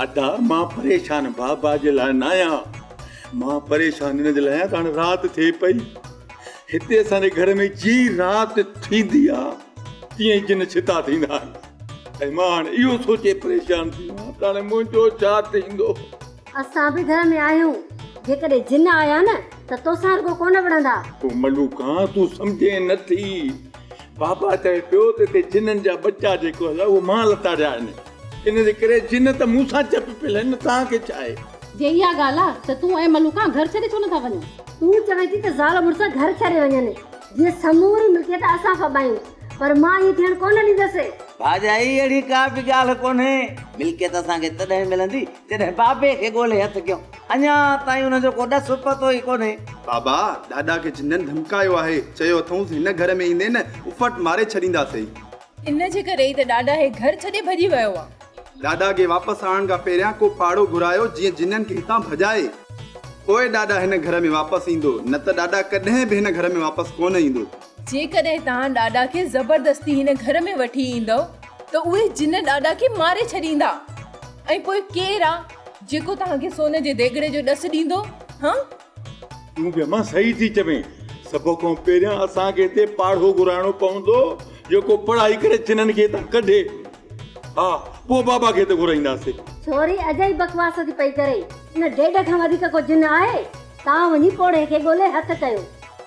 ادا مان پريشان بابا جي لاء ناهيان مان پريشان هن جي لاء آهيان ته هاڻي رات ٿئي پئي هتي اسان جي گهر ۾ جي رات ٿيندي آ تيئن ئي جن ڇتا ٿيندا آهن ۽ مان هاڻي اهو سوچي پريشان ٿي ويو ته هاڻي منهنجو ڇا ٿيندو. اسان به گهر ۾ آهيون جيڪڏهن جن آيا نه ته توسان رڳو ڪونه وڙهندا. او ملوڪا تون سمجهين نه ٿي بابا چوي پيو ته هتي جنن جا ٻچا جيڪو آهي اهو مان لتاڙيا آهن ان جي ڪري جن ته مون سان چپ پيل آهن، توهان کي ڇا آهي؟ جي اها ڳالهه آهي ته تون ۽ ملوڪان گهر ڇڏي ڇو نٿا وڃو؟ تون چوين ٿي ته زال مڙس گهر ڇڏي وڃن، جيئن سموري ملڪيت اسان ڦٻايون، پر مان ائين ٿيڻ ڪونه ڏيندس. ڀاڄائي اهڙي ڪا به ڳالهه ڪونهي. ملڪيت اسان کي تڏهن ملندي، جڏهن بابي کي ڳولي هٿ ڪيون. اڃا تائين ان جو ڪو ڏس پتو ئي ڪونهي. بابا، ڏاڏا کي جنن ڌمڪايو آهي، چيو اٿئونس هن گهر ۾ ايندين، افٽ ماري ڇڏينداسين. ان جي ڪري ئي ته ڏاڏا هي گهر ڇڏي ڀڄي ويو آ. ڏاڏا کي واپس آڻڻ کان پهريان ڪو پاڙو گهرايو جيئن جنن کي هتان ڀڄائي. پوء ڏاڏا هن گهر ۾ واپس ايندو. نه ته ڏاڏا ڪڏهن به هن گهر ۾ واپس ڪونه ايندو. جيڪڏهن توهان ڏاڏا کي زبردستي هن گهر ۾ وٺي ايندؤ ته اهي جن ڏاڏا کي ماري ڇڏيندا. ۽ پوء ڪير آ جيڪو توهان کي سون جي ديڳڙي جو ڏس ڏيندو؟ هه؟ تون به امان صحيح ٿي چوين. سڀ کان پهريان اسان کي هتي پاڙهو گهرائڻو پوندو جيڪو پڙهائي ڪري چنن کي هتان ڪڍي. ها پوء بابا کي هتي گهرائينداسين. ڇوري اجائي بڪواس ٿي پئي ڪري. ان ڊيڊ کان وڌيڪ ڪو جن آهي؟ تان وڃي پوڙهي کي ڳولي هٿ ڪيو.